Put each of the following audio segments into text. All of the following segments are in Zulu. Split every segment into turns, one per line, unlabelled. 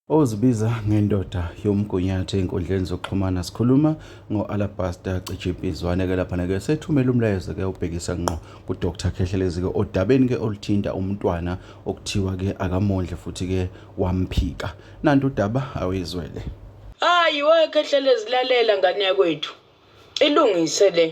ozibiza ngendoda yomgunyathi ey'nkundleni zokuxhumana sikhuluma ngo-alabaster cijipizwane-ke laphana-ke sethumela umlayezo-ke ubhekisa ngqo kudr khehlelezi-ke odabeni-ke oluthinta umntwana okuthiwa-ke akamondle futhi-ke wamphika nanti udaba awuyizwele hayi
we khehlelezi lalela ngane yakwethu ilungise le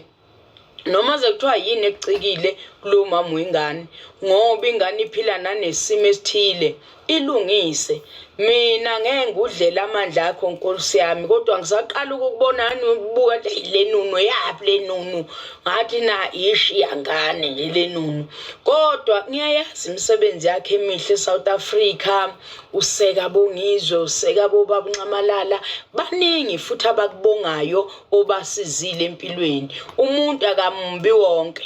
noma sekuthiwa yini ekucikile kulo mama wengane ngoba ingane iphila nanesimo esithile ilungise mina ngeke ngudlela amandla akho nkosi yami kodwa ngisaqala ukubona ngani ubuka le nunu yaphi le nunu ngathi na ishi yangane nje le nunu kodwa ngiyayazi imisebenzi yakhe emihle eSouth Africa useka bongizwe useka bobabunxamalala baningi futhi abakubongayo obasizile empilweni umuntu akambi wonke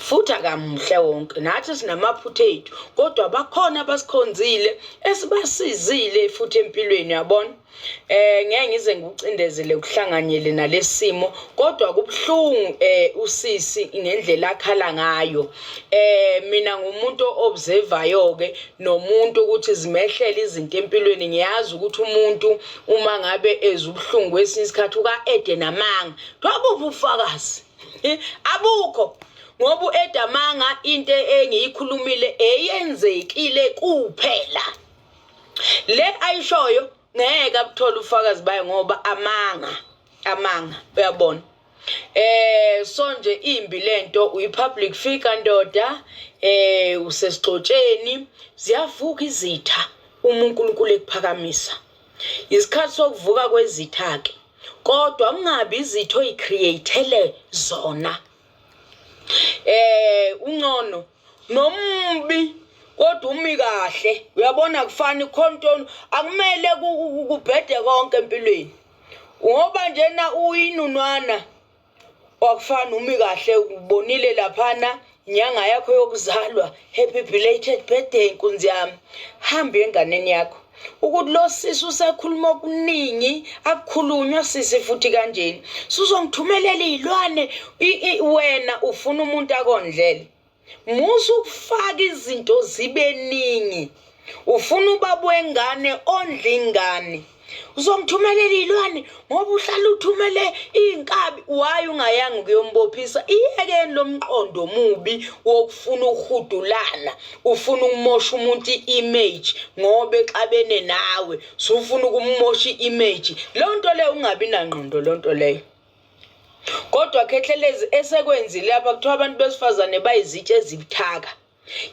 futhi akamuhle wonke nathi sinamaphutha ethu kodwa bakhona abasikhonzile esibasizile futhi empilweni yabona eh ngeke ngize ngikucindezele kuhlanganyele nalesimo kodwa kubuhlungu eh usisi ngendlela akhala ngayo eh mina ngumuntu observayo ke nomuntu ukuthi zimehlele izinto empilweni ngiyazi ukuthi umuntu uma ngabe ezwa ubuhlungu kwesinye isikhathi uka-ede namanga kuthiwa buphi ubufakazi abukho ngoba u-ede amanga into engiyikhulumile eyenzekile kuphela le ayishoyo ngeke abuthole ubufakazi bayo ngoba amanga amanga uyabona Eh so nje imbi lento uyipublic figure ndoda eh usesigxotsheni ziyavuka izitha uma uNkulunkulu ekuphakamisa isikhathi sokuvuka kwezitha ke kodwa ungabi izitho oyicreatele zona eh uncono nombi kodwa umi kahle uyabona kufani khona into akumele kubhede konke empilweni ngoba njena uyinunwana wakufana umi kahle ubonile laphana inyanga yakho yokuzalwa happy belated birthday nkunzi yami hambe enganeni yakho ukuthi lo sisi usekhuluma okuningi akukhulunywa sisi futhi kanjeni sizongithumelela iy'lwane wena ufuna umuntu akondlele musa ukufaka izinto zibe ningi ufuna ubaba wengane ondla ingane uzongithumelela iy'lwane ngoba uhlala uthumele iy'nkabi waye ungayanga ukuyombophisa iyekeni lo mqondo omubi wokufuna ukuhudulana ufuna ukumosha umuntu i-image ngoba exabene nawe sufuna ukumosha i-image loo nto leyo ungabi nangqondo loo nto leyo kodwa khehlelezi esekwenzile apha kuthiwa abantu besifazane bayizitshe ezibuthaka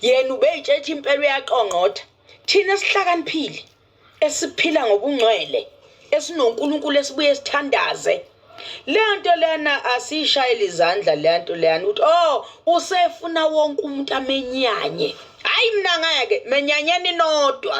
yena ubeyitshetha impela uyaqongqotha thina esihlakaniphile esiphila ngobungcwele esinonkulunkulu esibuye sithandaze leyo nto leyana asiyishayele izandla leyo nto leyana ukuthi o oh, usefuna wonke umuntu amenyanye hhayi mna ngeke menyanyeni nodwa